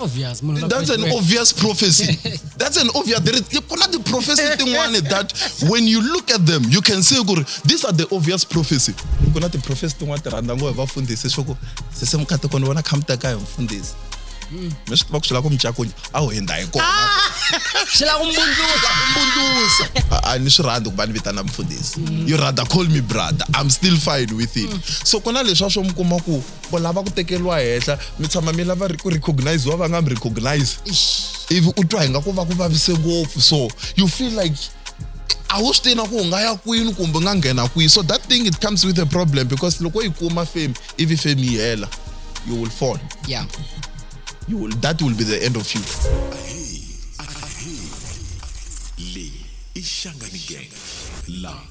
obvious munhu that's an obvious prophecy that's an obvious there is ku na ti-prophecy tin'wani that when you look at them you can see ku ri these are the obvious prophecy ku na ti-prophecy tin'wani ti rhandza ngopfu hi vafundhisi swa ku sese mukhatiko ni vona khamuta ka hi mfundhisi hmm. mi swi tiva ku swi lava ku micakunya a wu hindha hi kona ah! swi lava ku mbundzusa mbundzusa a ni swi rhandzi ku va ni vitana mfundhisi hmm. you rather call me brother i'm still fine with it hmm. so ku na leswi a swo mi kuma ku vo lava ku tekeriwa henhla mi tshama mi lava ku recogniziwa va nga mi recognize ivi u twa hi nga ku va ku vavise ngopfu so you feel like a wu swi tivi na ku u nga ya kwini kumbe u nga nghena kwihi so that thing it comes with a problem because loko yi kuma fame ivi fame yi hela you will fall yeah. you will, that will be the end of you le ishangani gang la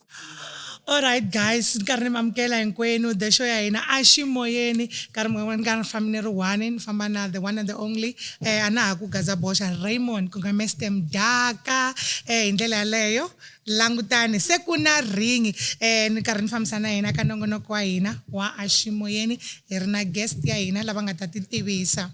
Alright guys, ni karhi ni mi amukela hinkwenu the show ya hina a xi moyeni nkarhi mun'wana ni karhi ni fambi ni ri one ni famba na the one and the only eh, a na ha ku gaza boxa Raymond ku nga Mr Mdaka eh, hi ndlela yaleyo langutani se ku na ringi eh, ni karhi ni fambisa na hina ka nongonoko wa hina wa a xi moyeni hi ri na guest ya hina lava nga ta ti tivisa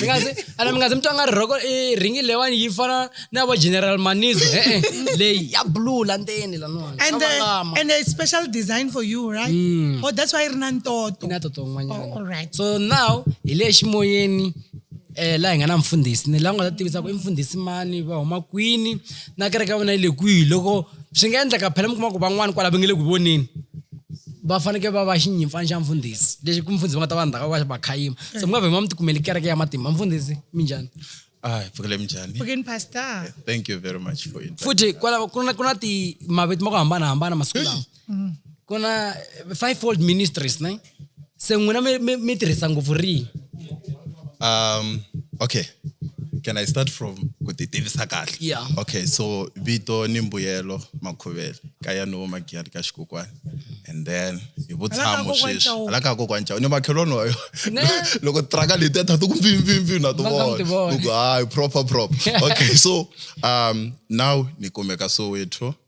mi nga zi- ana mi nga zi mi twa nga ri rhoko i ringi leyiwani yi fana na vo general manizo e-e leyi ya blue la ndzeni laniwani and Swa uh, vangama. and a special design for you right Mm. oh that's why ri na ntoto na toto Oh, all un'wanyana right. so now hi le ximoyeni um laha hi nga na mfundhisi ni laha u nga ta tivisa ku i mfundhisi mani va huma kwini na kereke ya vona yi le kwihi loko swi nga endleka phela mi kuma ku van'wani kwala va nge le ku voneni va fanekele va va xinyimpfana xa mfundhisi lexi ku mfundhisi va nga ta va ndzhaka va va khayima se mi nga vhe ma mi tikumeli kereke ya matimba mfundhisi mi njhani Hi pfukile minjhani? Pfukini pastor. Thank you very much for it. Futhi kwala ku na ku na ti mavito ma ku hambanahambana masiku lawa. Mm. Ku na five fold ministries, ne? se n'wina mi- mi mi tirhisa ngopfu rihi um okay can i start from ku ti tivisa kahle Yeah. okay so vito ni mbuyelo makhuvele ka ya no magiyani ka xikokwani and then hi vutshamo kokwana sweswi Chauke. hala ka kokwana chao ni makhelwani wayo Ne. loko tiraka leti ya thato ku mpfimpfimpfi na ti Va nga mi ti vona vona. Ku ku, hayi proper proper okay so um now ni kumeka soweto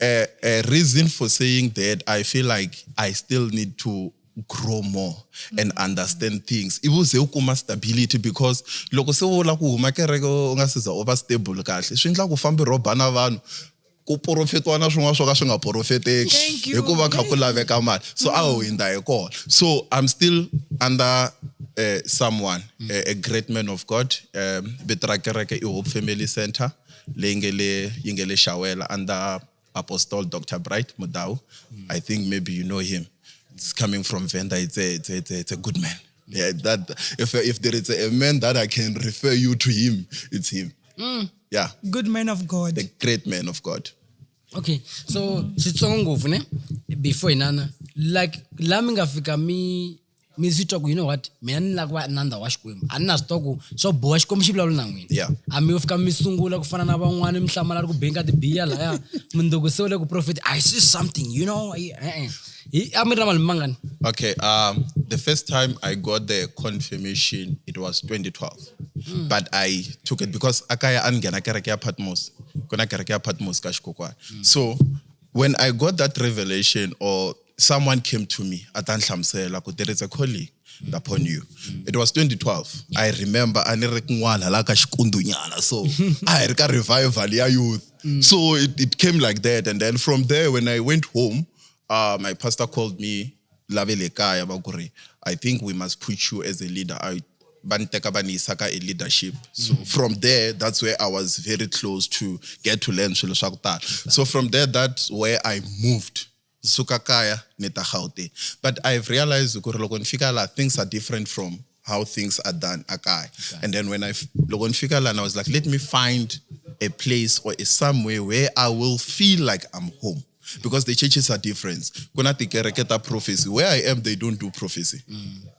a, a reason for saying that I feel like I still need to grow more and mm. understand things ivo ze u kuma stability because loko se u la ku huma kereke u nga siza u va stable kahle swi endla ku fambi rhoba na vanhu ku porofetiwa na swin'wana swo ka swi nga porofeteki hikuva kha ku laveka mali so a ho hindza hi kona so i'm still under uh, someone mm. a, a great man of god um, vito ra kereke i hope family center leyi nge le yi nge le Xawela under Apostle Dr Bright Mudau mm. I think maybe you know him it's coming from Venda it's a, it's a, it's a, it's a good man yeah, that if, if there is a man that I can refer you to him it's him mm. yeah good man of God the great man of God okay so xitsongo ngopfu ne before inana like la mi nga fika mi mi swi twa ku you know what mina ni lava ku va nandza wa xikwembu a ni na swi twa ku swo boha xikwembu xi vulavula na n'wina Yeah. a mi yo fika mi sungula ku fana na van'wana mi hlamala ri ku benka tibiya laya mundzuku se u le ku profeti i see something you know I- eh, eh. Hi- a mi ri na malembe mangani Okay, um, the first time I got the confirmation, it was 2012. Hmm. But I took it because akaya angena kereke ya Patmos. Kuna kereke ya Patmos ka Shikokwa. Hmm. So when I got that revelation or someone came to me a ta ni hlamusela ku there is a calling upon you it was 2012 i remember a ni ri kun'wana la ka xikundunyana so a hi ri ka revival ya youth mm. so it, it came like that and then from there when i went home uh, my pastor called me lave le kaya va ku ri i think we must put you as a leader I, va ni teka va ni yisa ka e leadership so mm. from there that's where i was very close to get to learn swilo swa ku tala so from there that's where i moved Ndzi suka kaya ni ta Gauteng but I have realized ku ri loko ni fika laha things are different from how things are done a kaya and then when I loko ni fika laha I was like let me find a place or a somewhere where I will feel like I'm home because the churches are different ku na tikereke ta prophecy where I am they don't do prophecy mm.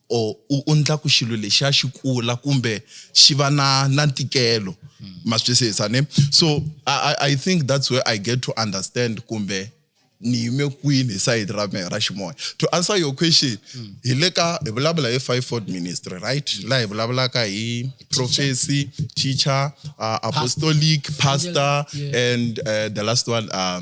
or u undla ku xilo lexiya xi kula kumbe xi va na na ntikelo hmm. ma swi twisisa ne so I, i think that's where i get to understand kumbe ni yime kwini hi sayiti ra mehe ra ximoya to answer your question hmm. hi le ka hi vulavula hi five ford ministry right hmm. laha hi vulavulaka hi prophecy teacher uh, apostolic pastor and uh, the last one uh,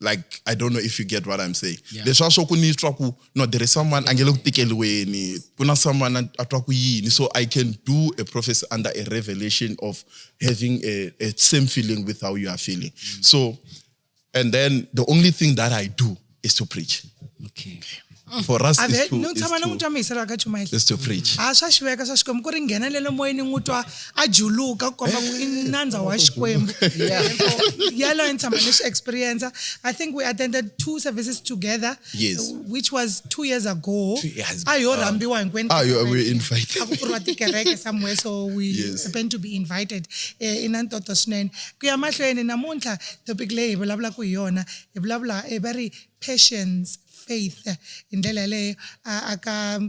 like i don't know if you get what i'm saying yeah. leswi a swo ku ni twa ku no there is someone a nge le ku tikeliweni ku na someone a twa ku yini so i can do a prophecy under a revelation of having a, a same feeling with how you are feeling mm. so and then the only thing that i do is to preach okay. okay. mm. for us Ave, is to, is tshama ni n'wi to, twa mi hisela ka chumayela is to preach a swa xiveka swa xikwembu ku ri nghenelele moyeni n'wi twa a juluka ku komba ku i nandza wa xikwembu yaloyo ni tshama ni swi experience i think we attended two services together Yes. which was two years ago Two years a yo rhambiwa hinkwenu Ah, you- we invited. a ku pfuriwa tikereke somewhere so we Yes. happen to be invited eh, i na ntoto swinene ku ya mahlweni namuntlha topic leyi hi vulavulaka hi yona hi vulavula eh, va ri patience faith hi ndlela yaleyo aka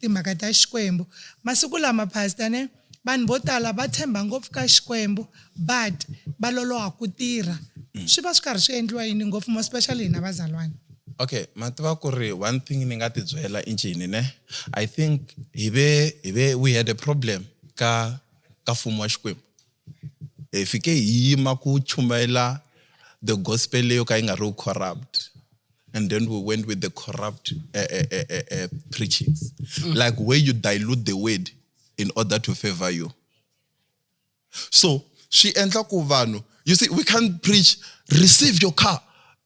timhaka ta xikwembu masiku lama pastor ne vanhu vo tala va tshemba ngopfu ka xikwembu but va loloha ku tirha mm. swi va swi karhi swi endliwa yini ngopfu mo specially hina vazalwana okay ma tiva ku ri one thing ni nga ti byela i ncini ne i think hi ve hi ve we had a problem ka ka mfumo wa xikwembu hi fike hi yima ku chumayela the gospel leyo ka yi nga ri corrupt and then we went with the corrupt uh, uh, uh, uh, preachings mm. like where you dilute the word in order to favor you so swi endla ku vanhu you see we can't preach receive your car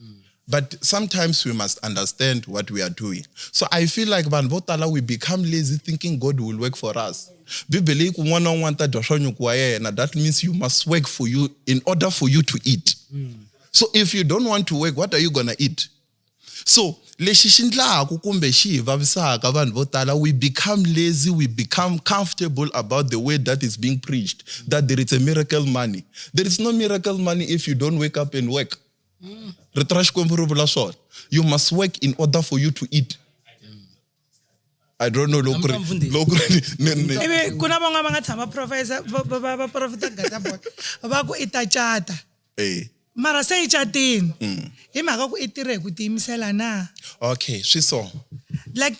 mm. but sometimes we must understand what we are doing so i feel like vanhu vo tala we become lazy thinking god will work for us bibele yi ku n'wana na un'wana ta dya swa nyuku wa yena that means you must work for you in order for you to eat mm. so if you don't want to work what are you gonna eat so lexi xi ndlaku kumbe xi hi vavisaka vanhu vo tala we become lazy we become comfortable about the way that is being preached that there is a miracle money there is no miracle money if you don't wake up and work mm. rito ra xikwembu ri vula swona you must work in order for you to eat I don't know loko ri loko ri ivi ku na van'wana va nga tshama professor va profita gata boy va ku i ta chata eh mara se yi catini mm. hi mhaka ku i tirhe hi ku tiyimisela na okay swi so like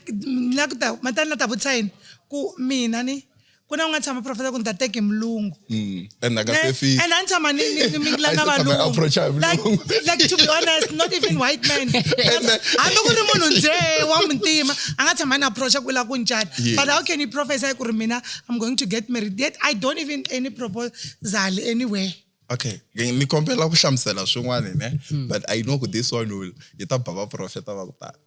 la ku ta matani la ta vutisa yini ku mina ni ku na ku nga tshama professor ku ni ta teke mulungu mm. and a ni tshama ni mingila na valungulike to be honest not even white man hambi ku ri munhu nje wa muntima a nga tshama ni approacha ku la ku ncata but how can you professor ku ri mina i'm going to get married yet i don't even any proposal anywhere okay ni kombela ku hlamusela swin'wana ne hmm. but i know ku this one will yi ta bava profeta va ku tala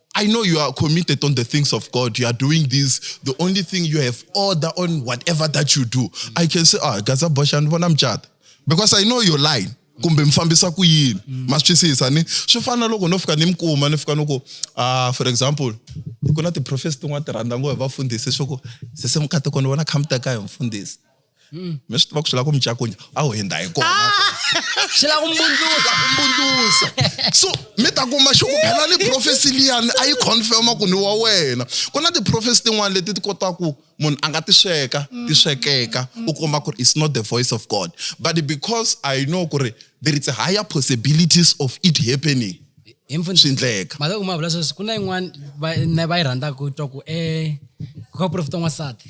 I know you are committed on the things of God. You are doing this. The only thing you have order on whatever that you do. Mm. I can say, ah, Gaza Boshan, when I'm chat. Because I know you're lying. kumbe mi fambisa ku yini mm. ma swi twisisa ni swi fana na loko no fika ni mi kuma ni fika ni ku ah for example ku na tiprofesi tin'wana ti rhandza ngo hi vafundhisi swa ku sese mukhatekoni vona khamita ka hi mfundhisi mm. mi swi tiva ku swi lava ku mi cakunya a wu hindza hi kona swi lava ku mbundzusa ku mbundzusa so mi ta kuma xi ku phela ni profesi liyani a yi confirma ku ni wa wena ku na tiprofesi tin'wana leti ti kotaka ku munhu a nga ti sweka ti swekeka u kuma ku ri it's not the voice of god but because i know ku ri there is a higher possibilities of it happening swi endleka mhaka ku ma vula sweswi ku na yin'wana va yi rhandzaka ku twa ku um eh, ku ka profeta n'wansati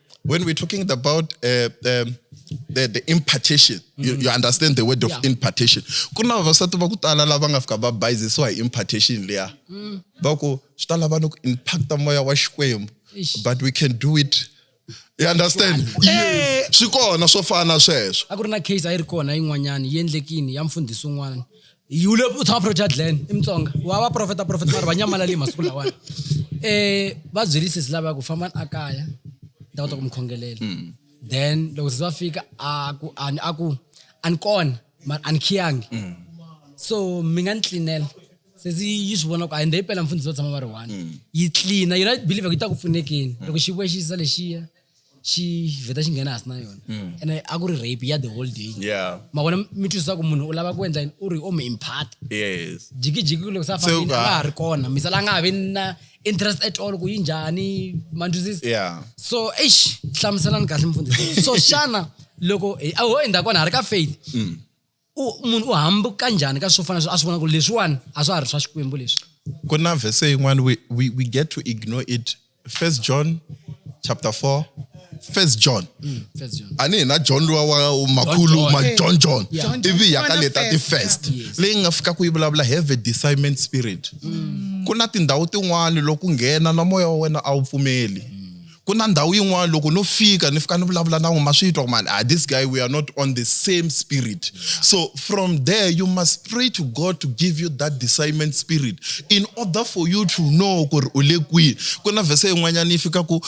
when we're talking about uh, um, the, the impartation mm. you, you, mm. understand the word of yeah. impartation ku na vavasati va ku tala lava nga fika va bayizisiwa hi impartation leya mm. va ku swi ta lava ni ku impacta moya wa xikwembu but we can do it you understand eh. swi kona swo fana sweswo a ku ri na case a yi ri kona yin'wanyani yi endlekini ya mfundhisi un'wana yi vule u tshama profeta glen i mutsonga wa va profeta profeta mari va nyamalale masiku lawani um eh, va byeli sesi lava ya ku fambani a kaya ni ta kota ku mi khongelela hmm. then loko sesi va fika a ku ani a ku a ni kona mari a ni khiyangi hmm. so mi nga ni tlinela sesi yi swi vona ku a yi nda yi pela mfundhisi va tshama va ri one hmm. yi tlina yona believe ku yi ta ku pfunekeni loko xi vuya xi yisa lexiya xi vheta xi nghena hansi na yona mm. ene a ku ri rape ya the whole day ma vona mi twisisa ku munhu u lava ku endla u ri o mi impart jikijiki loko se a fambile a nga ha ri kona misala a nga ha vi na interest at all ku yi njhani ma twisisa so eish hlamuselani kahle mfundhisi so xana loko a ho endzhaku kona ha ri ka faith mm. u munhu u hambuka njhani ka swo fana swo a swi vona ku leswiwani a swa ha ri swa xikwembu leswi ku na vhese yin'wana we, we, we get to ignore it first john chapter 4 first john mm, a ni hina john luwa wa makhulu ma john john ivi hi yaka leta ti-first leyi nga fika ku yi vulavula have a discernment spirit mm. ku na tindhawu tin'wana loko nghena na moya wa wena a wu pfumeli mm. ku na ndhawu yin'wana loko no fika ni fika ni vulavula na n'we ma swi twa ku mani ah this guy we are not on the same spirit so from there you must pray to god to give you that discernment spirit in order for you to know ku ri u le kwihi ku na vhese yin'wanyana yi fika ku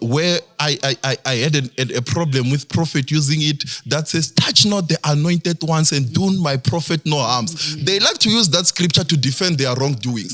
where I, I, I, I had an, a, a problem with prophet using it that says, touch not the anointed ones and do my prophet no harms. Mm-hmm. They like to use that scripture to defend their wrongdoings.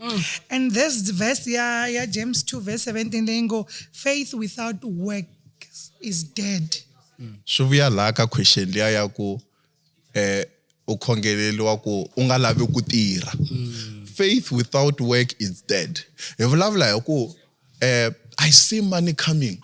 Mm. And this verse, yeah, yeah, James 2, verse 17, they go, faith without work is dead. Mm. swi vuya laha ka question liya ya ku eh u khongeleriwa ku u nga lavi ku tirha mm. faith without work is dead hi vulavula hi ku eh i see money coming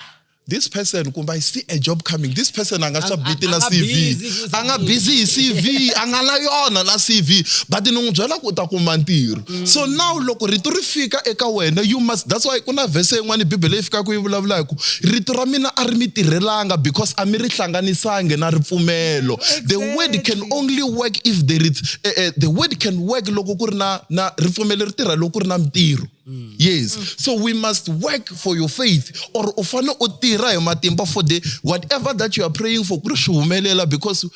this person kumbe i see a job coming this person a nga submit na cv a nga busy hi cv a nga na yona na cv but ni n'wi byela ku u ta kuma ntirho mm. so now loko rito ri fika eka wena you must that's why ku na vhese yin'wana bibele yi fikaka yi vulavula hi ku rito ra mina a ri mi tirhelanga because a mi ri hlanganisangi na ripfumelo the word can only work if there is uh, uh, the word can work loko ku ri na na ripfumelo ri tirha loko ku ri na mintirho Mm. Yes. Mm. So we must work for your faith or ufane utira hi matimba for the whatever that you are praying for kuri swi humelela because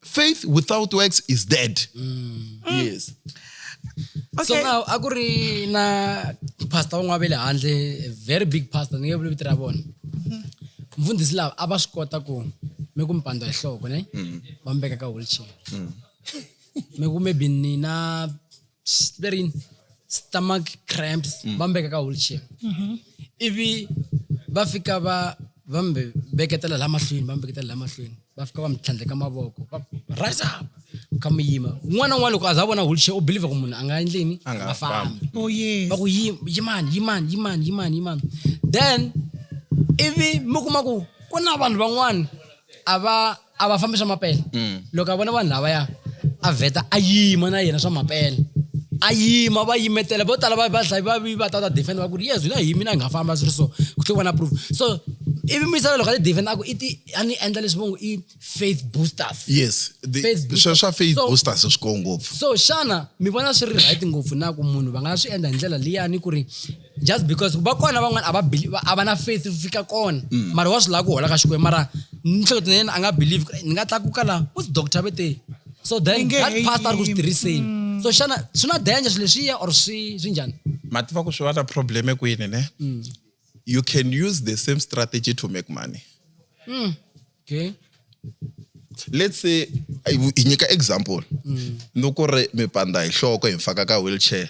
faith without works is dead. Mm. Yes. Okay. So now a ku ri na pastor un'wana ve le handle a very big pastor ni nge vuli vito ra vona. Mm-hmm. Mfundhisi lava a va swi kota ku mi ku mi pandwa hi nhloko ne mm. va mi veka ka wheelchair. Mm. Mi ku maybe nina they're in stomach cramps mm. va mbeka ka wheelchair mm-hmm. ivi va fika va va mi veketela la mahlweni va mi veketela la mahlweni va fika va mi tlhandleka mavoko va rise up ka mi yima un'wana na un'wana loko a za vona wheelchair u believe ku munhu a nga endleni a nga fambi oh, va ku yimani yimani yimani yimani yimani then ivi mi kuma ku ku na vanhu van'wana a va a va fambi swa mapele mm. loko a vona vanhu lavaya a vheta a yima na yena swa mapele a yima va yimetela vo tala vadlayi va vi va tata defend va ku ri yes hina hi mina hi nga famba swi ri so ku tlhe vona proof so ivi misava loko a ti defend a ku i ti a ni endla leswi vongo i faith boosters yes swa swa faith boosters swi koo ngopfu so xana mi vona swi ri right ngopfu na ku munhu va nga swi endla hi ndlela liyani ku ri just because va kona van'wana a va believe a va na faith ku fika kona mm. mara wa swi lava ku hola ka xikwembu mara nihleketo na yena a nga believe ni nga tlakuka laha u ti doctor ve te so then that past a ri ku swi tirhiseni mm. so xana swi na danger swi leswiya or swi swi njhani ma tiva ku swi va na problem kwini ne mm. you can use the same strategy to make money mm. okay let's say hi nyika example ni ku ri mipanda hi nhloko hi mfaka ka wheelchair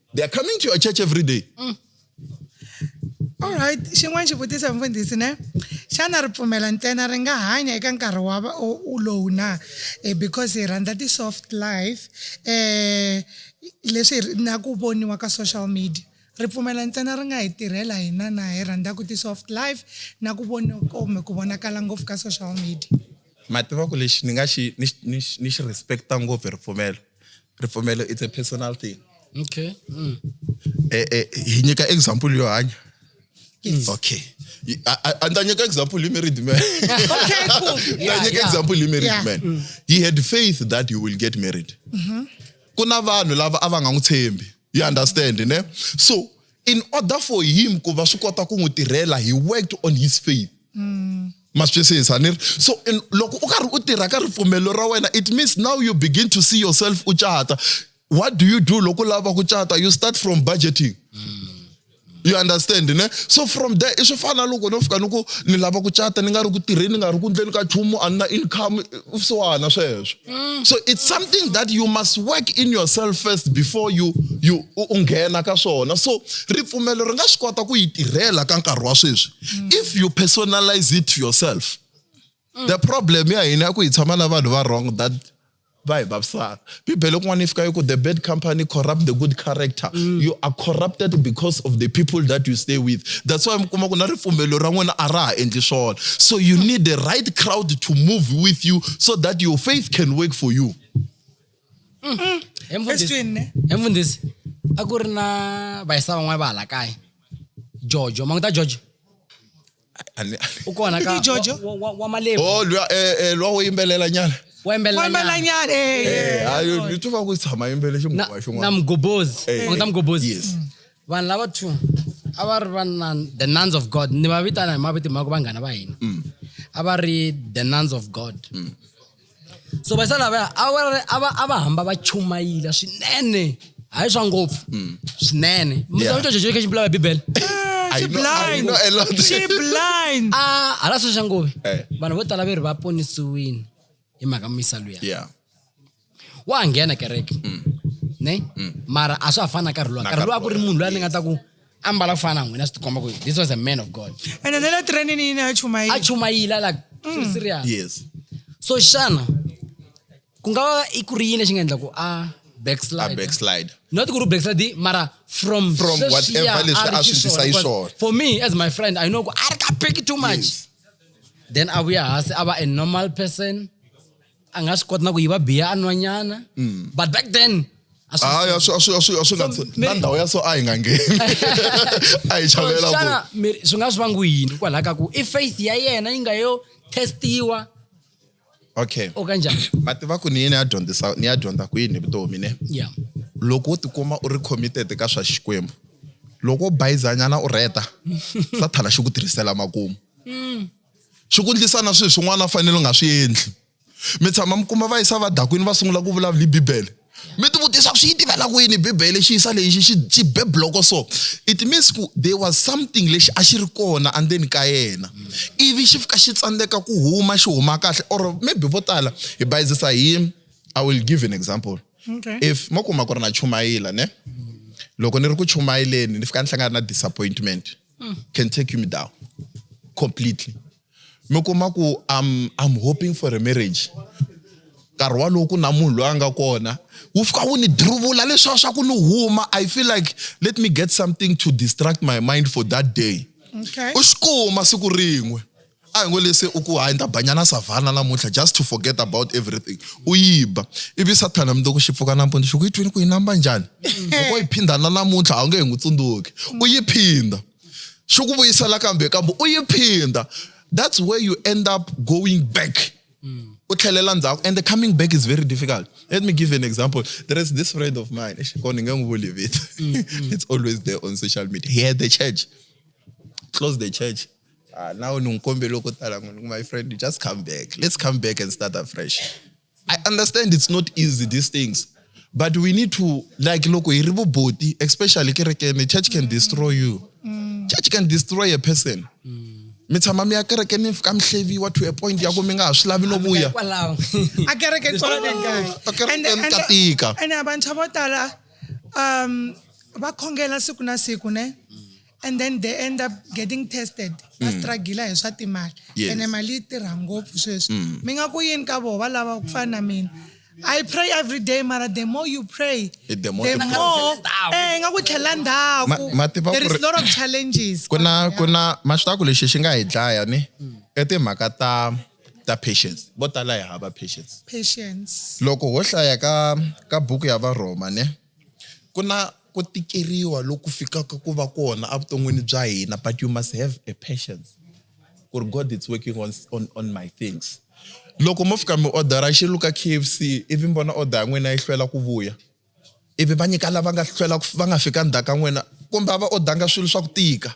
They are coming to your church every day. Mm. All right, xin'wana xivutiso mfundhisi ne xana ripfumela ntsena ri nga hanya eka nkarhi wa lowu na eh, because hi rhandza ti-soft life eh leswi na ku voniwa ka social media ripfumela ntsena ri nga hi tirhela hina na hi rhandzaku ti-soft life na ku vona kumbe ku vonakala ngopfu ka social media ma tiva ku lexi ni nga xi ni ni ni xi respecta ngopfu hi ripfumelo ripfumelo it's a personal thing okay mm. eh, eh, hi nyika example yo hanya Yes. Okay. And I take example, you married man. okay, cool. Yeah, I take yeah. example, you married yeah. man. Mm. He had faith that you will get married. Mm-hmm. Kuna vanhu lava a va nga n'wi tshembi. you understand ne so in order for him ku va swi kota ku n'wi tirhela he worked on his faith mm. ma swi twisisa ni ri so in, loko u karhi u tirha ka ripfumelo ra wena it means now you begin to see yourself u cata what do you do loko u lava ku cata you start from budgeting mm. you understand ne so from there i swi fana loko no fika ni ku ni lava ku cata ni nga ri ku tirheni ni nga ri ku ndleni ka chumu a ni na income swona sweswo mm. so it's something that you must work in yourself first before you you u nghena ka swona so ripfumelo ri nga swi kota ku yi tirhela ka nkarhi wa sweswi mm. if you personalize it to yourself mm. the problem ya hina ya ku hi tshama na vanhu va wrong that va hi vavisaka bibele kun'wana yi fika yi ku the bad company corrupt the good character mm. you are corrupted because of the people that you stay with that's why mi kuma ku na ripfumelo ra n'wina a ra ha endli swona so you need the right crowd to move with you so that your faith can work for you mm. emfundhisi a ku ri na vayisa van'wana va hala kaya jojo mangu ta jojo A ni- u kona ka Hi Jojo. wa- wa- wa malemu Oh, lwa- eh, eh, lwa wo yimbelela nyana wa yimbelela wembela nyana eh, eh. Ah, yo- ni twa ku tshama yimbele xinguva na xin'wana mgobozi Eh, un'we ta mgobozi yes. vanhu lava two a va ri va nun- the nuns of god ni va vitana hi mavito ma ku vanghana va hina a va ri the nuns of god so va sala lavaya a va a va a va hamba va chumayila swinene hayi swa ngopfu hmm. swinene Yeah. mutsamitwa jeje khe xibulawa bibele I know- I blind know a lot. she blind a ah, hala swi xa ngovi Eh. vanhu vo tala ve ri va ponisiwini hi mhaka misa luya yeah wa ha nghena kereke hmm. ne hmm. mara a swa ha fani na karhi luwa karhi luwa a ku ri munhu loyi a ni nga ta ku ambala kufana n'wina swi tikomba ku this was a man of god ene ne le trenini yini a chumayini a chumayila like mm. serious yes so xana ku nga va i ku ri yini lexi nga endla ku a backslide backslide not ku ri backslide mara from from whatever leswi a swi ndisa yi swona for me as my friend i know ku a ri ka big too much yes. then a vuya hasi a va a normal person a nga swi koti na ku yiva biya a nwanyana mm. but back then hayi na ndhawu ya so a hi nga ngheni a hi chavelela swi nga swi vangiwi yini kwalaho ka ku i faith ya yena yi nga yo testiwa okay o kanjani ma tiva ku ni yini ya dyondzisa ni ya dyondza ku yini vutomi ne ya loko u tikuma u ri committed ka swa xikwembu loko u bayizanyana u rheta sathana xi ku tirhisela makumu mm. swi ku ndlisa na swilo swin'wana a fanele u nga swi endli mi tshama mi kuma va yisa vadakwini va sungula ku vulavula hi bibele mi ti vutisa ku swi yi tivela kwini bibele xi yisa lexi xi xi be bloko so it means ku there was something lexi a xi ri kona andzeni ka yena ivi xi fika xi tsandzeka ku huma xi huma kahle or maybe vo tala hi bayizisa hi i will give an example okay. if mo kuma ku ri na chumayila ne loko ni ri ku chumayeleni ni fika ni hlangana na disappointment mm. can take me down completely mi kuma ku I'm, I'm hoping for a marriage nkarhi walowo ku na munhu loyi a nga kona wu fika wu ni diruvula leswiwa swa ku ni huma i feel like let me get something to distract my mind for that day okay. u swi kuma siku rin'we a hi ngo lese u ku hayi ni ta banyana savhana namuntlha just to forget about everything u yiba ivi sathana mi loko xi pfuka nampundzu xi ku yi twini ku yi namba njhani loko yi phindana namuntlha a wu nge hi n'wi tsundzuki u yi phinda xi ku vuyisela kambe kambe u yi phinda that's where you end up going back u tlhelela ndzhaku and the coming back is very difficult let me give you an example there is this friend of mine ko ni nge n'wi vuli vito it's always there on social media he had the church close the church ah, nawu ni n'wi kombele ko tala n'wi ku my friend just come back let's come back and start afresh i understand it's not easy these things but we need to like loko hi ri vuboti especially kerekeni church can destroy you mm. church can destroy a person mm. mi tshama mi ya kereke ni fika mi hleviwa to a point ya ku mi nga ha swi lavi no vuya a kereke ka tika ene vantshwa vo tala um va khongela siku na siku ne and then they end up getting tested va mm. struggle hi swa timali ene mali yi tirha ngopfu sweswi mm. mi nga ku yini ka vona va lava ku fana na mina I pray every day, Mara. The more you pray, eh, the more, the more eh, nga ku tlhela ndhaku. There is a lot of challenges. Kuna kuna maxitaku lexi xi nga hi dlaya ni i timhaka ta ta patience. Vo tala hi hava patience. Patience. Loko ho hlaya ka ka buku ya Varhoma ne. Ku na ku tikeriwa loku fikaka ku va kona evuton'wini bya hina but you must have a patience ku ri God is working on on on my things. Loko mo fika mi odara xilo ka K_F_C ivi mi vona order ya n'wina yi hlwela ku vuya, ivi va nyika lava nga hlwela va nga fika ndzhaku ka n'wina kumbe a va odanga swilo swa ku tika.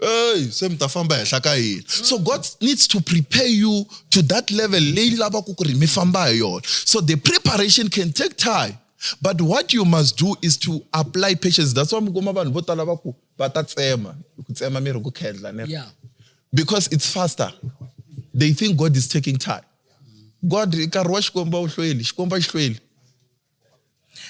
Hey, se mi ta famba henhla ka yini so god needs to prepare you to that level leyi lavaka ku ri mi famba hi yona so the preparation can take time but what you must do is to apply patience that's why mi kuma vanhu vo tala va ku va ta tsema ku tsema miri ku khendla ne because it's faster they think god is taking time god nkarhi wa xikwembu a wu hlweli xikwembu a xi hlweli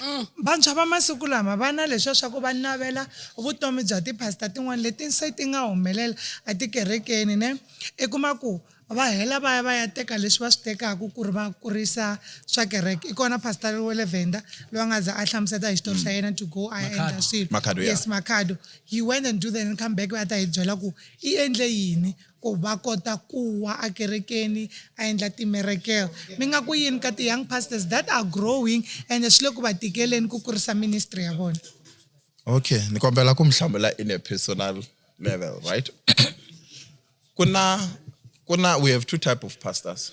Mm. vantshwa va masiku lama va na leswiya swa ku va navela vutomi bya tiphasita tin'wana leti se ti nga humelela etikerekeni ne i kuma ku va hela va ya va ya teka leswi va swi tekaka ku ri va kurisa swa kereke i kona pastor wa le venda loyi a nga za a hlamuseta hi xitori xa mm. yena to go a endla swilo yes makhado he went and do then come back va ta hi byela ku i endle yini ku va kota kuwa a kerekeni a endla timerekel mi nga ku yini ka ti-young pastors that are growing ende swi le ku va tikeleni ku kurisa ministry ya vona okay ni kombela ku mi hlamula in a personal level right ku na ku na we have two type of pastors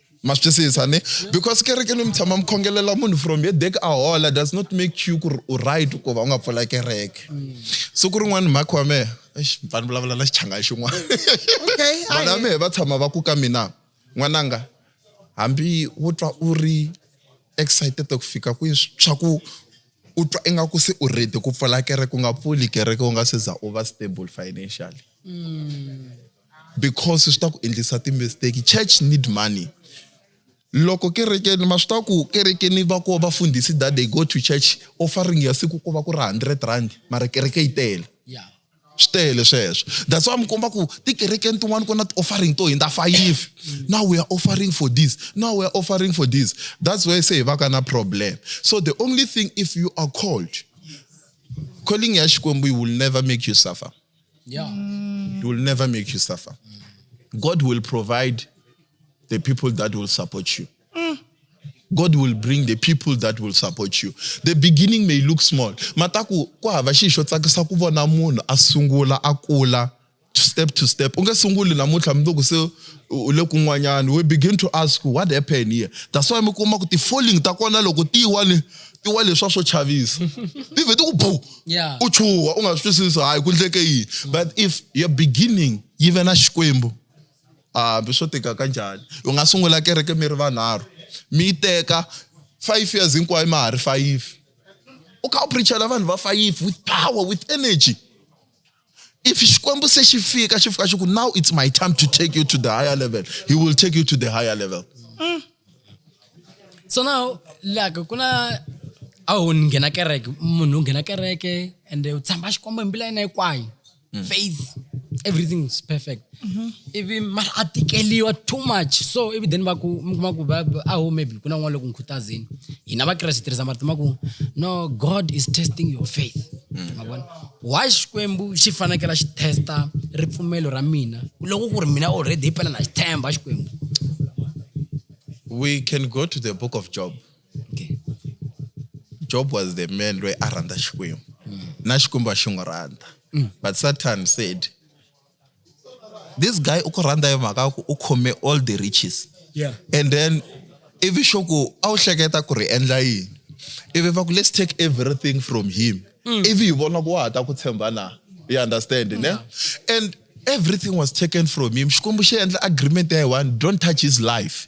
ma swi twisisa ni because kereke ni mi tshama mi khongelela munhu from ye dek a hola does not make you ku ri u right ku va u nga pfula kereke siku rin'wana mhakhi wa mehe mfana vulavula na xichanga xin'wana vana mehe va tshama va ku ka mina n'wananga hambi wo twa u ri excited ku fika kwihi swa ku u twa ingaku se u ready ku pfula kereke u nga pfuli kereke u nga se za u va stable financially mm. because swi ta ku endlisa ti-mistake church need money loko kerekeni ma swi tiva ku kerekeni va ko vafundhisi that they go to church offering ya siku ku va ku ri hundred rand mara kereke yi tele swi tele sweswo that's why mi komba ku tikerekeni tin'wana ku na ti-offering to hindza fayive mm. now we are offering for this now we are offering for this that's why se hi va ka na problem so the only thing if you are called calling ya xikwembu you will never make you suffer Yeah. Mm. It will never make you suffer. God will provide the people that will support you. Mm. God will bring the people that will support you. The beginning may look small. Mataku ku hava xi xo tsakisa ku vona munhu a sungula a kula step to step. U nge sunguli namuntlha mi loko se u le kun'wanyana. We begin to ask what happened here. That's why mi kuma ku ti-falling ta kona loko ti wa ni ti wa leswa swo chavisa. Ti vhe ti ku boo. yeah. u chuha u nga swi twisisi hayi ku ndleke yini mm. but if your beginning yi ve na xikwembu hambi swo tika ka njhani u nga sungula kereke mi ri vanharhu mi yi teka five years hinkwayo ma ha ri fayifi u kha u preachela vanhu va fayifi with power with energy If Xikwembu se xi fika xi fika xi ku now it's my time to take you to the higher level, he will take you to the higher level. Mm. So now like ku na a wu nghena kereke munhu u nghena kereke and u tshamba Xikwembu hi mbilu ya yena hinkwayo. Mm. Faith everything is perfect. mhm. ivi mara a tikeliwa too much so ivi then va ku mi kuma ku aho maybe ku na n'wana loko n'wi khutazini hina vakreste hi tirhisa marito ma ku no god is testing your faith mm. ma vona why xikwembu xi fanekela xi testa ripfumelo ra mina loko ku ri mina already hi pela na xi tshemba xikwembu we can go to the book of job okay. job was the man loyi a rhandza xikwembu mm. na xikwembu a xi n'wi rhandza mm. but satan said this guy u ku rhandza hi mhaka ku u khome all the riches yeah. and then ivi xo ku a wu hleketa ku ri endla yini ivi va ku let's take everything from him mm. ivi hi vona ku wa ha ta ku tshemba na you understand yeah. ne and everything was taken from him xikwembu xi endla agreement ya hi one don't touch his life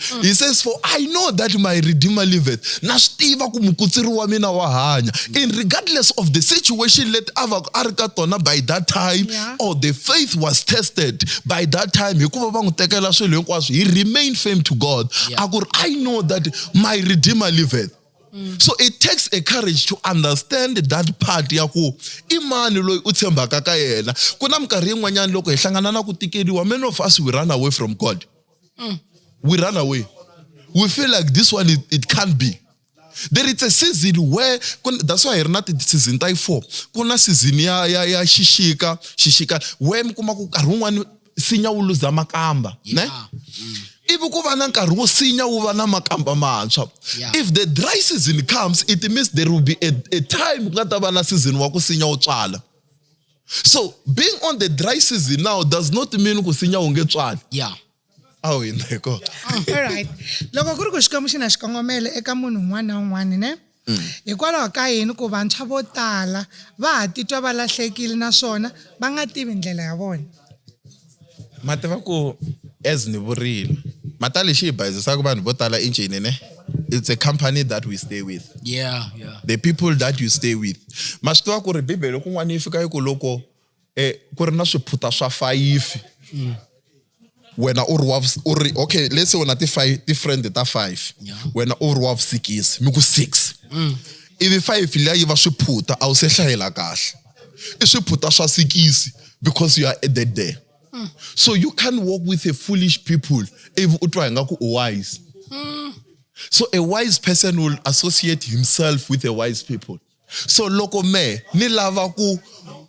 Mm. He says, For I know that my Redeemer liveth. Na swi tiva ku mukutsiri wa mina wa hanya. In regardless of the situation let a va a ri ka tona by that time yeah. or the faith was tested by that time hikuva va n'wi tekela swilo hinkwaswo he remained firm to God. Yeah. A ku ri I know that my Redeemer liveth. Mm. So it takes a courage to understand that part ya ku i mani loyi u tshembaka ka yena. Ku na minkarhi yin'wanyana loko hi hlangana na ku tikeriwa many of us we run away from God. Mm. We run away. We feel like this one, it, it can't be. There is a season where, that's why not the season type four. Kuna season ya, ya, ya shishika, shishika, where mkuma kukarungwa sinya uluza makamba. Yeah. Ne? Mm. ivi ku va na nkarhi wo sinya wu va na makamba mantshwa if the dry season comes it means there will be a, a time ku nga ta va na season wa ku sinya wo tswala so being on the dry season now does not mean ku sinya wu nge tswali yeah a wu hindza hi kona alright loko ku ri ku xikwembu xi na xikongomelo eka munhu un'wana na un'wana ne mm. hikwalaho ka yini ku vantshwa vo tala va ha titwa va lahlekile naswona va nga tivi ndlela ya vona ma tiva ku as ni vurile mata lexi hi bayizisaka vanhu vo tala injini ne it's a company that we stay with yeah, yeah. the people that you stay with ma swi tiva ku ri bibele kun'wana yi fika yi ku loko um ku ri na swiphuta swa fayifi mm. wena u ri wa u ri okay let's say wena ti-five ti-friend ta five yeah. wena u ri wa vusikisi mi ku six mm. ivi five liya yi va swiphuta a wu se hlayela kahle i swiphuta swa sikisi because you are added there mm. so you can't walk with a foolish people if u twa hi nga ku u wise mm. so a wise person will associate himself with a wise people so loko me ni lava ku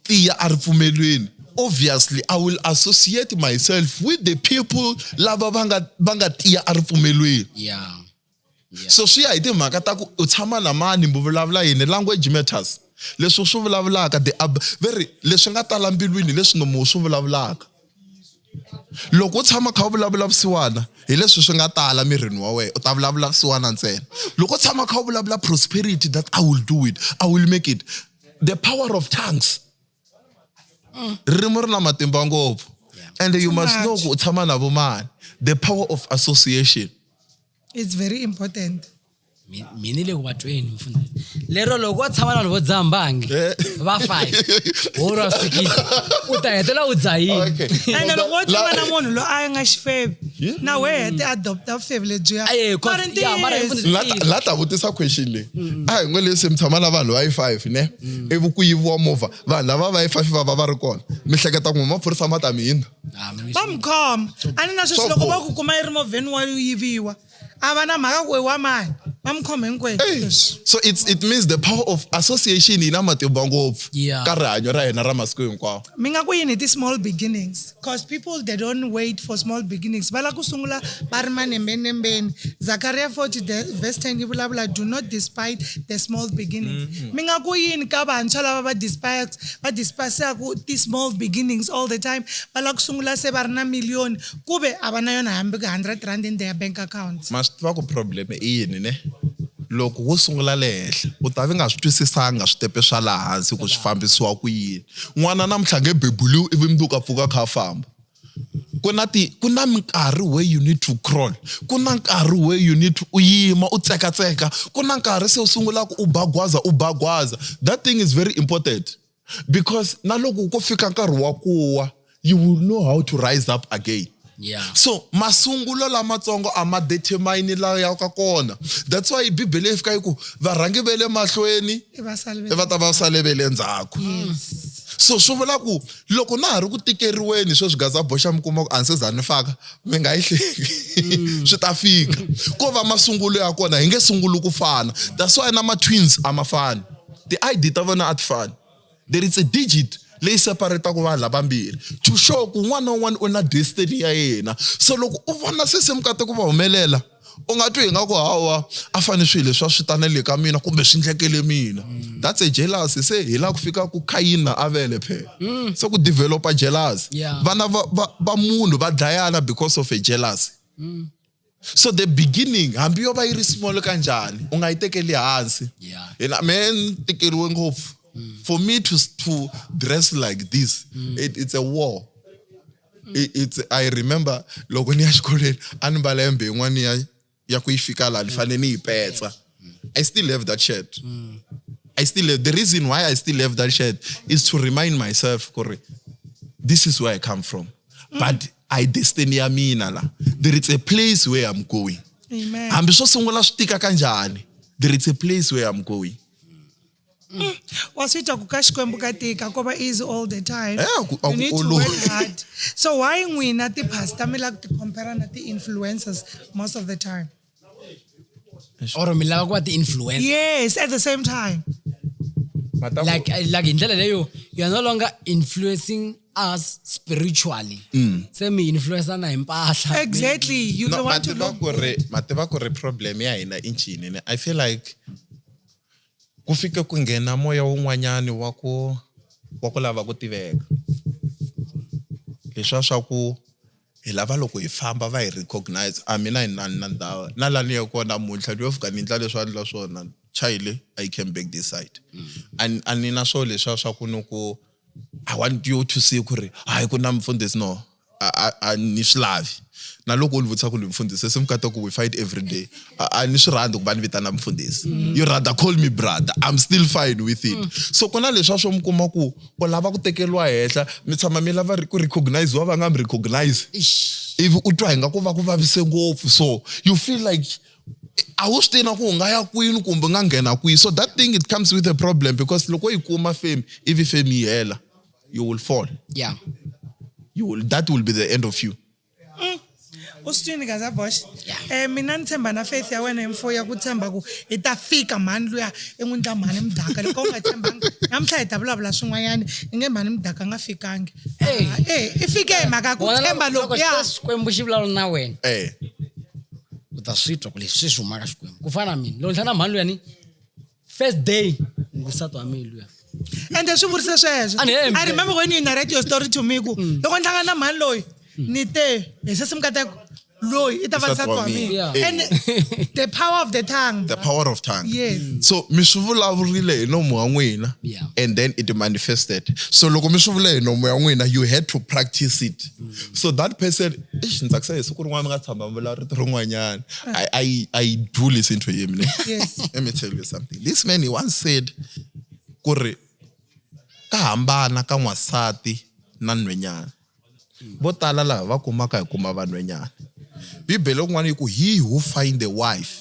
tiya a ripfumelweni obviously i will associate myself with the people lava va nga va nga tiya a ripfumelweni yeah yeah. so swi ya hi timhaka ta ku u tshama na mani mi vulavula yini language matters leswi swi vulavulaka the ab ve ri leswi nga tala mbilwini leswi nomo swi vulavulaka loko u tshama kha u vulavula vusiwana hi leswi swi nga tala mirini wa wena u ta vulavula vusiwana ntsena loko u tshama kha u vulavula prosperity that i will do it i will make it the power of tongues mm. ririmi ri na matimba ngopfu and you must know ku u tshama na vumani the power of association it's very important mina le ku va tweni mfundisi lero loko wo tshama na vanhu vo dzaha mbangi eh. va five woro a fikile u ta hetela u dzahiniene loko wo tshama na munhu loyi a nga xifebi na we hete adopta vufebi lebyiyamarla ta vutisa question leyi a hi ngo leswi mi tshama na vanhu va yi five ne ivi ku yiviwa movha vanhu lava va yi fafi va va va ri kona mi hleketa ku maphorisa ma ta mi hina va mi khoma a ni na sweswi loko va ku kuma yi ri movheni wa yiviwa a va na mhaka ku i wa mani va mi khoma hinkwerhu so it's, it means the power of association yi na matimba ngopfu ka rihanyo ra hina ra masiku hinkwawo mi nga ku yini hi ti-small beginnings Cause people they don't wait for small beginnings va lava ku sungula va ri manembenembeni Zakariya 40 de- verse 10 yi vulavula do not despite the small beginnings mi nga ku yini ka vantshwa lava va despise va despisaku ti-small beginnings all the time va lava ku sungula se va ri na miliyoni ku ve a va na yona hambi ku 100 rand in their bank account ma swi tiva ku problem i yini ne loko wo sungula le henhla u ta vi nga swi twisisanga switepe swa laha hansi ku swi fambisiwa ku yini n'wana namuntlha a nge bebuliwi ivi mundzuku a pfuka a kha a famba ku na ti ku na minkarhi where you need to crawl ku na nkarhi where you need to u yima u tsekatseka ku na nkarhi se u sungulaka u bagwaza u bagwaza that thing is very important because na loko ko fika nkarhi wa ku wa you will know how to rise up again Yeah. so masungulo lamatsongo a ma determine la ya ka kona that's why bibele yi fika yi ku varhangi ve le mahlweni i va sale ve- i va ta va sale ve le ndzhaku so swi vula ku loko na ha ri ku tikeriweni sweswi gaza boxa mi kuma ku a ni se za ni faka mi nga yi hleki swi ta fika ko va masungulo ya kona hi nge sunguli ku fana that's why na ma-twins a ma fani ti-id ta vona a ti fani there is a digit leyi separetaka vanhu lavambirhi to show ku un'wana na un'wana u na destiny ya yena so loko u vona se se mukate ku va humelela u nga twi hi nga ku hawa a fane swilo leswi a swi tanele ka mina kumbe swi ndlekele mina mm. that's a jealousy se hi la ku fika ku khayina avele phela mm. se ku developa jealousy vana va munhu va dlayana because of a jealousy mm. so the beginning hambi yo va yi ri small ka njhani u nga yi tekeli hansi yena me ni tikeriwe ngopfu mm. for me to, to dress like this mm. it, it's a war mm. it's, i remember loko ni ya xikolweni a ni mbala yembe yin'wana ya ya ku yi fika laha ni fanele ni yi petsa i still have that shirt mm. i still have, the reason why i still have that shirt is to remind myself kuri this is where i come from mm. but a hi destiny ya mina la there is a place where i'm going Amen. hambi swo sungula swi tika kanjhani there is a place where i'm going mm. wa swi twa ku ka xikwembu ka tika ko va easy all the time eh, aku, aku, you need to work hard so why n'wina ti-pastor mi lava ku ti-compara na ti-influencers most of the time or mi lava ku va ti-influencer yes at the same time Mataku- like uh, like hi ndlela leyo you are no longer influencing us spiritually Mm. se mi influencana hi mpahla exactly you no, don't want to mativa look ku ri mativa ku ri problem ya hina i ncini ne i feel like ku fike ku nghena moya wun'wanyani wa ku wa ku lava ku tiveka leswiya swa ku Hi lava loko hi famba va hi recognize a mina hi nani na ndhawu na la ni ya kona namuntlha ni yo fika ni ndla leswi a ndla swona chayile i came back this side mm. a ni na swo leswiya swa ku ni ku i want you to see ku ri hayi ku na mfundhisi no a ni swi lavi na loko u ni vutisa ku ni mfundhisi se mi kata ku we fight every day a ni swi rhandzi ku va ni vitana mfundhisi mm. you rather call me brother i'm still fine with it mm. so ku na leswiya swo mi kuma ku u lava ku tekeriwa henhla mi tshama mi lava ku recogniziwa va nga mi recognize ivi u twa hi nga ku va ku vavise ngopfu so you feel like a wu swi tivi na ku u nga ya kwini kumbe u nga nghena kwihi so that thing it comes with a problem because loko yi kuma fame ivi fame yi hela you will fall yeah you will, that will be the end of you mm. u swi twini gaza bosh um mina ni tshemba na faith ya wena hi mfo ya ku tshemba ku hi ta fika mhani luya i n'wi ndla mhani mudaka loko u nga tshembanga namuntlha hi ta vulavula swin'wanyana i nge mhani mudaka nga fikangi e i fike hi mhaka ku tshemba loko ya xikwembu xi vulavula na wena eh. u ta swi twa ku leswi swi humaka xikwembu ku fana na mina lontlha na mhani luyani first day ngusatu wa mina luya ende swi vurise sweswo i remember when you narrate your story to me ku mm. loko ni hlangana na mhani loyi mm. ni te hi se simukateko loyi i ta va nsati wa mina and the power of the tongue the power of tongue yes mm. so mi swi vulavurile hi nomu wa n'wina and then it manifested so loko mi swi vule hi nomu ya n'wina you had to practice it so that person Eish, ni tsakisa hi siku rin'wana mi nga tshamba mi vulavula rito rin'wanyana I, I, I do listen to him ne Yes. let me tell you something this man he once said ku ri ka hambana ka n'wansati na nhwenyana vo tala laha va kumaka hi kuma vanhwenyana bibele kun'wana yi ku he who find a wife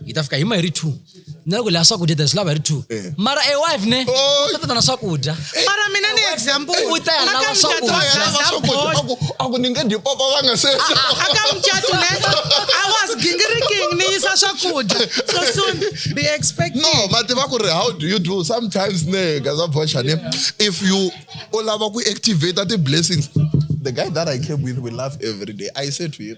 hi ta fika hi ma hi ri two na loko leya swakudya ta swi lava hi ri two eh. mara a wife ne oh. u ta na swakudya eh. mara mina ni example u ta ya lava swakudyaku ni nge dyi papa va nga se aka mucato ne i was gingiriking ni yisa swakudya so soon be expecting no mati va ku ri how do you do sometimes ne gaza boxa ne if you u lava ku activate the blessings the guy that i came with we laugh every day i say to him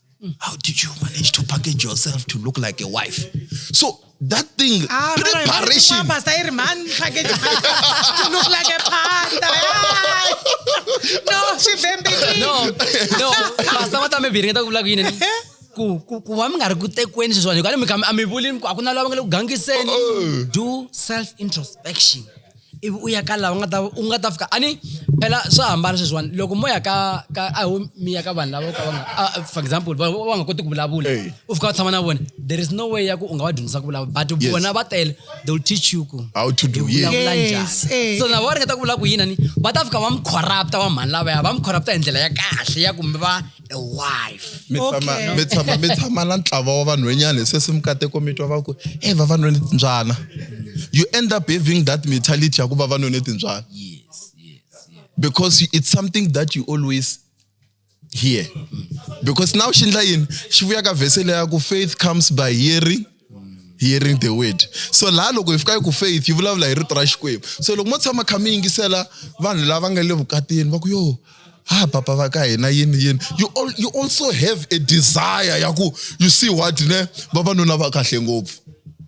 Mm. How did you manage to package yourself to look like a wife? So that thing, ah, preparation. Mama, say, man, package to look like a panda. no, she bembeki. No, no. Pastor, what am I being? Talk like you. ku ku ku va mi nga ri ku tekweni sweswiwani hikuva mi kha a mi vuli a ku na lava nga le ku gangiseni oh, oh. do self introspection ivi u ya ka laha u nga ta u nga ta fika a ni phela swa hambana sweswiwani loko mo ya ka ka a ho mi ya ka vanhu lava ka va nga for example va va nga koti ku vulavula u fika u tshama na vona there is no way ya ku u nga va dyondzisa ku vulavula but vona va tele they will teach you ku how to do vulavula njhani so na va ringeta ku vula ku yini ni va ta fika va mi corrupta va mhani lavaya va mi corrupta hi ndlela ya kahle ya ku mi va a wife mi tshama Okay. mi tshama mi tshama na ntlawa wa vanhwenyana hi sweswi mikateko mi twa va ku e vavanuna ni timbyana you end up having that mentality ya ku vavanuna ni timbyana yes yes yes because it's something that you always hear because now xi ndla yini xi vuya ka vhese leya ku faith comes by hearing hearing the word so laha loko hi fika yi ku faith yi vulavula hi rito ra xikwembu so loko mo tshama kha mi yingisela vanhu lava nga le vukatini va ku yo ha papa va ka hina yini yini you, all, you also have a desire ya ku you see what ne vavanuna va kahle ngopfu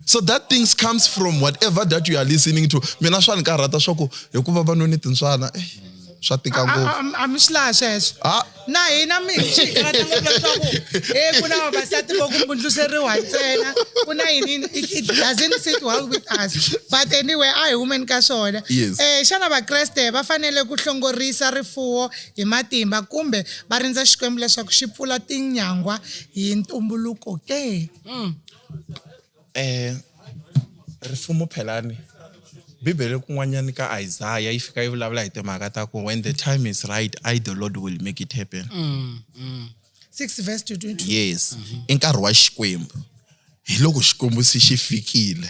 so that things comes from whatever that you are listening to mina swa ni karhata swa ku hikuva vanuni tintswana eh. swa tika ngopfu a mi swi laha sweswo ah. na hina mi hi swi karata ngopfu leswaku e ku na vavasati vo kumbundluseriwa ntsena ku na yini it doesn't sit well with us but anyway a hi humeni ka swona um eh, xana vakreste va fanele ku hlongorisa rifuwo hi matimba kumbe va rindza xikwembu leswaku xi pfula tinyangwa hi ntumbuluko ke mm. Eh, rifumo phelani bibele kun'wanyani ka isaya yi fika yi vulavula hi timhaka ta ku when the time is right i the lord will make it happen mm, mm. 6 verse 22 yes mm -hmm. i nkarhi wa xikwembu hi loko xikwembu se xi fikile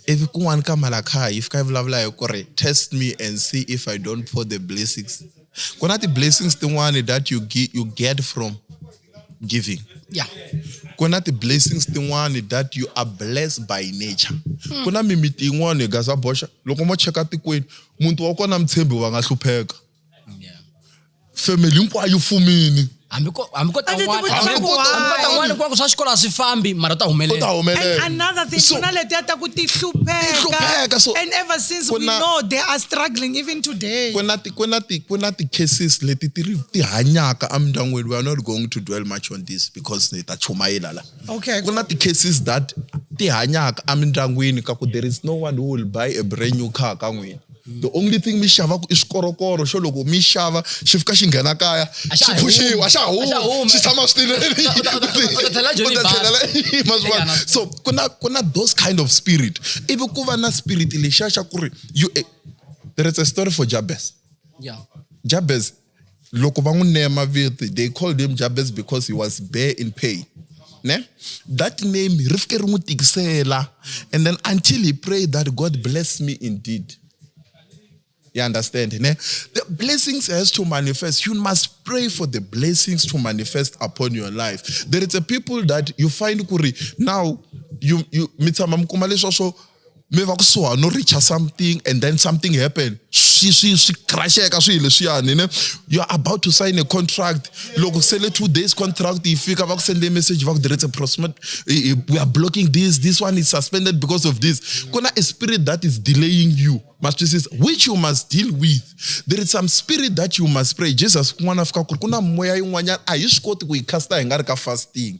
ivi kun'wana ka malakhaya yi fika yi vulavula hi ku ri test me and see if i don't pour the blessings ku na ti-blessings tin'wani that you, get, you get from giving yeah. ku na ti-blessings tin'wani that you are blessed by nature hmm. ku na mimiti yin'wani hi gaza boxa loko mo cheka tikweni muti wa kona mutshembi va nga hlupheka yeah. family hinkwayo fumini hambi ko hambi ko tan'wana hambi ko tan'wana ku va ku swa xikolo a swi fambi mara ta humelela another thing ku na letiya ta ku ti hlupheka so and ever since we know they are struggling even today Ku na ti ku na ti-cases leti ti ri ti hanyaka emindyangwini we are not going to dwell much on this because ni ta chumayela la okay ku na ti-cases that ti hanyaka emindyangwini ka ku there is no one who will buy a brand new car ka n'wina the only thing mi xavaka i swikorokoro xo loko mi xava xi fika xi nghena kaya xi phuxiwa xa huma xi tshama switilelemaxivaso ku na ku na those kind of spirit ivi ku va na spirit lexiya xa ku ri you there is a story for jabez yeah. jabez loko va n'wi neya mavito they called him jabez because he was bare in pain ne that name ri fike ri n'wi tikisela and then until he prayed that god bless me indeed you understand ne the blessings has to manifest you must pray for the blessings to manifest upon your life there is a people that you find kuri now you, you mi tshama mi kuma leswa swo mi va kusuhani no reacha something and then something happen swi swi swi crasheka swihi leswiyani ne you are about to sign a contract loko sele two days contract yi fika va ku sende message va ku there is a prospect we are blocking this this one is suspended because of this ku na a spirit that is delaying you matwisisa which you must deal with there is some spirit that you must pray jesus kun'wana fika ku ri ku na moya yin'wanyana a hi swi koti ku yi casta hi nga ri ka fasting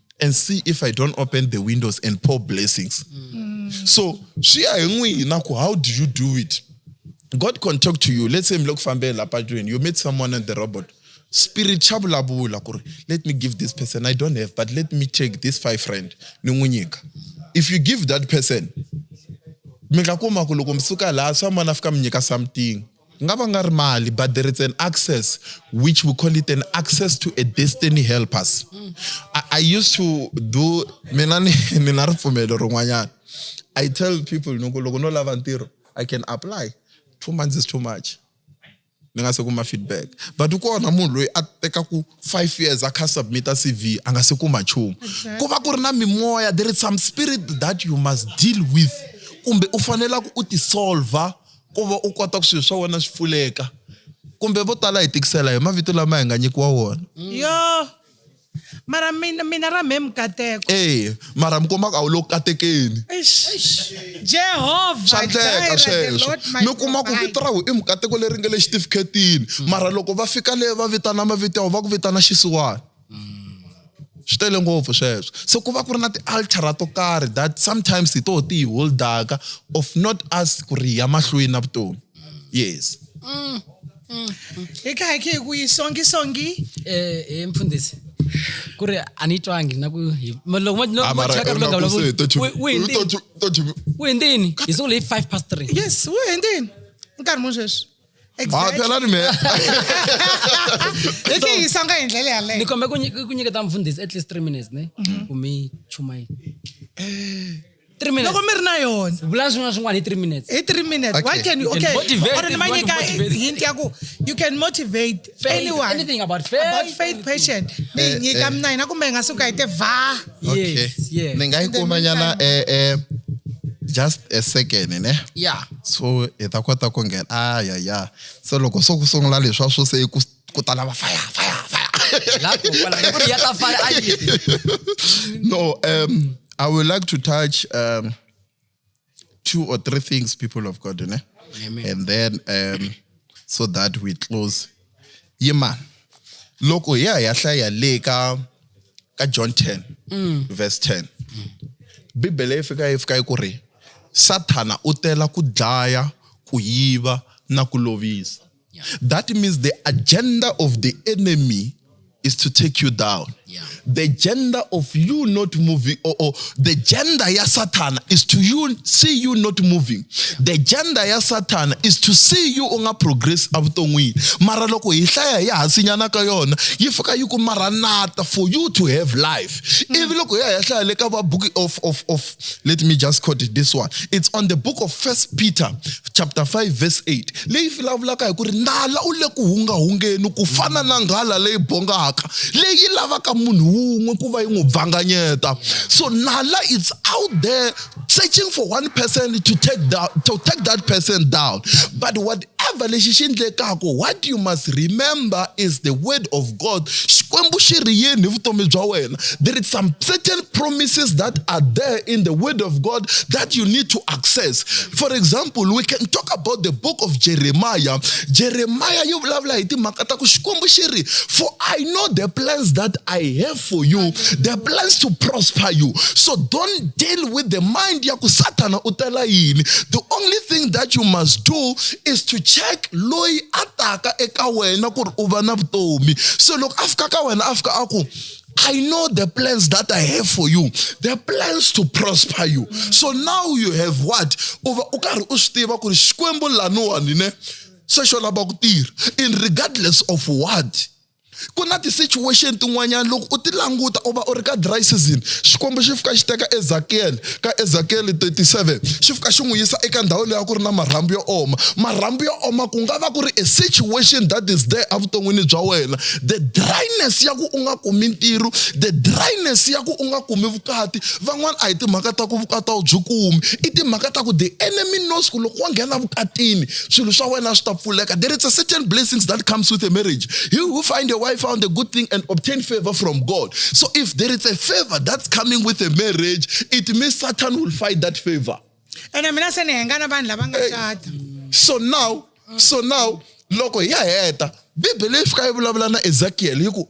and see if i don't open the windows and pour blessings mm. so swi ya hi n'wina ku how do you do it god can talk to you let's say mi le ku fambeni la patwini you meet someone on the robot spirit xa vulavula ku ri let me give this person i don't have but let me take this five friend ni n'wi nyika if you give that person mi nga kuma ku loko mi suka laha swa mani a fika mi nyika something Ku nga va nga ri mali but there is an access which we call it an access to a destiny helpers. I, I used to do mina ni ni na ripfumelo rin'wanyana. I tell people ni ku loko no lava ntirho I can apply two months is too much ni nga se kuma feedback but kona munhu loyi a tekaku five years a kha submita cv a nga se kuma nchumu ku va ku ri na mimoya there is some spirit that you must deal with kumbe u fanelaka u tisolva ku va u kota ku swilo swa wena swi pfuleka kumbe vo tala hi tikisela hi mavito lama hi nga nyikiwa wona mm. yo mara mina mina ra mhe mukateko e mara mi kombaka a wu lo katekeni jehovha swa ndleka sweswo mi kuma ku vito ra wu i mukateko leri nga le xitifiketini mm. mara loko va fika le va vitana mavito ya wu va ku vitana xisiwana swi tele ngopfu sweswo so ku va ku ri na ti-altara to karhi that sometimes hi toho ti hi holdaka of not us ku ri hi ya mahlweni na vutomi yes mm. hi kha hi khe hi ku yi songi songi um mfundhisi ku ri a ni twangi na ku loko hi sungule hi five past three yes wu hindini nkarhi muni sweswi Exactly. phela ni me Hi tihisa nga hi ndlela yaleyo. ni kombe ku nyi- ku nyiketa mfundhisi at least three minutes ne Mhm. ku mi chuma yi three minutes Loko mi ri na yona. vulani swin'wana swin'wana hi three minutes Hi three minutes. Why Okay. can you You can okay? motivate Or if ni ma you want to nyika motivate. hint ya ku you can motivate faith Anyone. anything about faith about faith anything. patient ni yi nyika mina hina kumbe hi nga suka hi te vha okay yes yes ni nga yi kuma nyana eh eh just a second ne yeah so hi ta kota ku nghena a ya ya se loko so ku sungula leswa swo se ku ku ta lava fire fire fire la ko kwala ku ri ya ta fala a yi no um i would like to touch um two or three things, people of God, né? Amen. and then um, so that we close. Yeah, man. Look, oh, yeah, yeah, yeah, le ka ka John 10 mm. verse 10. Bibele e fika e fika e ku ri Sathana u tela ku dlaya, ku yiva na ku lovisa. Yeah. That means the agenda of the enemy is to take you down. Yeah. The gender of you not moving, or, or the gender ya Satan is to you see you not moving. Yeah. The gender ya Satan is to see you unga progress avuton'wini. Mara loko hi hlaya ya hasinyana ka yona yi fika yi ku maranata for you to have life. Mm. Ivi loko ya hi hlaya le ka va book of of of let me just quote it this one it's on the book of first peter chapter 5 verse 8 leyi vulavulaka hi ku ri nala u le ku hungahungeni ku fana na nghala leyi bongaka leyi lavaka munhu wun'we ku va yi n'wi bvanganyeta so nala it's out there searching for one person to take, down, to take that person down but what Whatever lexi xi endlekaka, what you must remember is the word of God. Xikwembu xi ri yini hi vutomi bya wena? There is some certain promises that are there in the word of God that you need to access. For example, we can talk about the book of Jeremiah. Jeremiah yi vulavula hi timhaka ta ku Xikwembu xi ri, for I know the plans that I have for you their plans to prosper you so don't deal with the mind ya ku satana u tela yini the only thing that you must do is to check loyi a taka eka wena ku ri u va na vutomi so loko a fika ka wena a fika a ku I know the plans that I have for you. The plans to prosper you. So now you have what? Uva u karhi u swi tiva ku ri Xikwembu laniwani ne se xo lava ku tirha in regardless of what ku na ti-situation tin'wanyana loko u ti languta u va u ri ka dry season xikwembu xi fika xi teka ezakiyele ka ezakiyele 37 xi fika xi n'wi yisa eka ndhawu leyi a ku ri na marhambu yo oma marhambu yo oma ku nga va ku ri a situation that is there evuton'wini bya wena the dryness ya ku u nga kumi ntirho the dryness ya ku u nga kumi vukati van'wana a hi timhaka ta ku vukati a wu byi kumi i timhaka ta ku the enemy knows ku loko wa nghena vukatini swilo swa wena swi ta pfuleka there is a certain blessings that comes with a marriage he who find a wife found a good thing and obtain favor from god so if there is a favor that's coming with a marriage it means satan will fight that favor ene mina se ni hengana vanhu lava nga cata so now so now loko hi ya heta bibele yi fika yi vulavula na ezekiel hi ku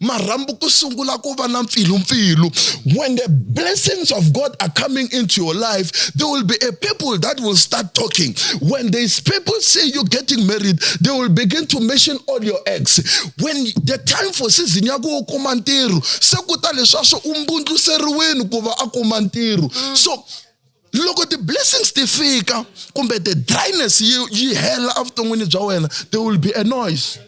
marhambu ku sungula ku va na mpfilumpfilu when the blessings of god are coming into your life there will be a people that will start talking when these people say you're getting married they will begin to mention all your ex when the time for season ya ku u kuma ntirho se ku ta leswi a swi umbundluseriweni ku va a kuma ntirho so loko ti-blessings ti fika kumbe the dryness yi yi hela evuton'wini bya wena there will be a noise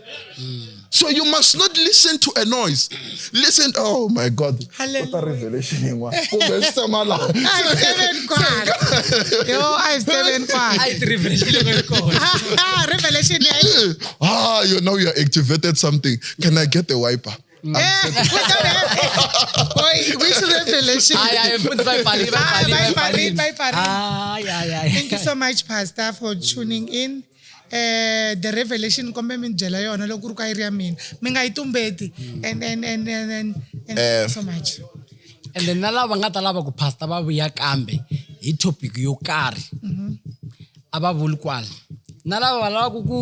so you must not listen to a noise listen oh my god kota revelation yin'wana kumbe swi tshama laha ah you know you are activated something can i get a wiper Eh, Boy, we should have the election. Ay, ay, futhi bayibhalile, Ah, bayibhalile, bye, bayibhalile. bye, bye, bye. Ay, ay, ay. Thank you so much, Pastor, for tuning in. Eh, the revelation kombe mi ni byela yona loko ku ri ka yi ri ya mina mi nga yi tumbeti and and and and and, and Eh. thank you so much and then na lava nga ta lava ku pastor va vuya kambe hi topic yo karhi a va vuli kwala na lava va lavaka ku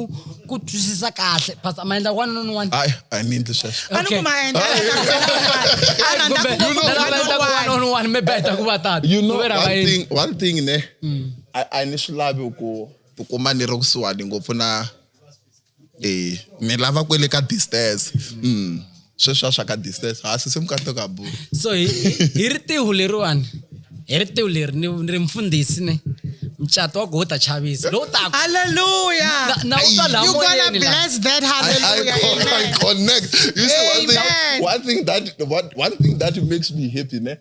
ku twisisa kahle pastor ma endla wanuna ni wanuna hayi a ni endli sweswo a ni Okay. ku ma endla a na na ku Kumbe na lava endlaka wanuna ni wanuna maybe a hi ta ku va tata you know Ku ve ra va one endli. thing one thing ne a a ni swi lavi ku tikuma ni ri kusuhani ngopfu na e mi lava kwele ka distance mm. sweswa swa ka distance ha sise mukato ka bu so hi ri tihu leriwani hi ri tihu leri ni ri mfundhisi ne mcato wa gota chavisa lowu taku haleluya na u twa la moyeni la bless that haleluya I, I, I connect you see one thing one thing that one, one thing that makes me happy ne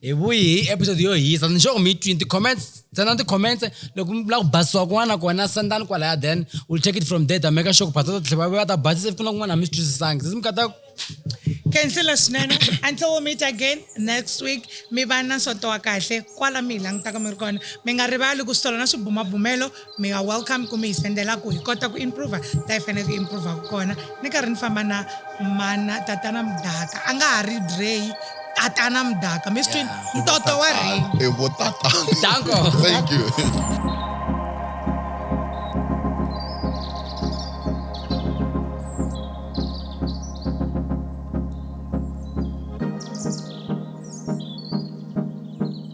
hi vuyi hi episode yo hisa ni xoko mi twini ti-comments tsena ti-comments loko mi lava ku basisiwa kun'wana na kona sendani kwalaya then will check it from there ta make sure ku pastor tlhe va va ta basisa ku na kun'wana mi swi twisisangi se mi kata khansela swinene until we meet again next week mi va na nsoto wa kahle kwala mi hi langutaka mi ri kona mi nga rivali ku swi tolo na swibumabumelo Mi nga welcome ku mi hi sendela ku hi kota ku improver la hi faneleke hi improver kona. Ni karhi ni famba na mana tatana Mdaka a nga ha ri Drey tatana Mdaka mi swi twini Yeah. ntoto wa ring. I vo tata. Danko. Thank you.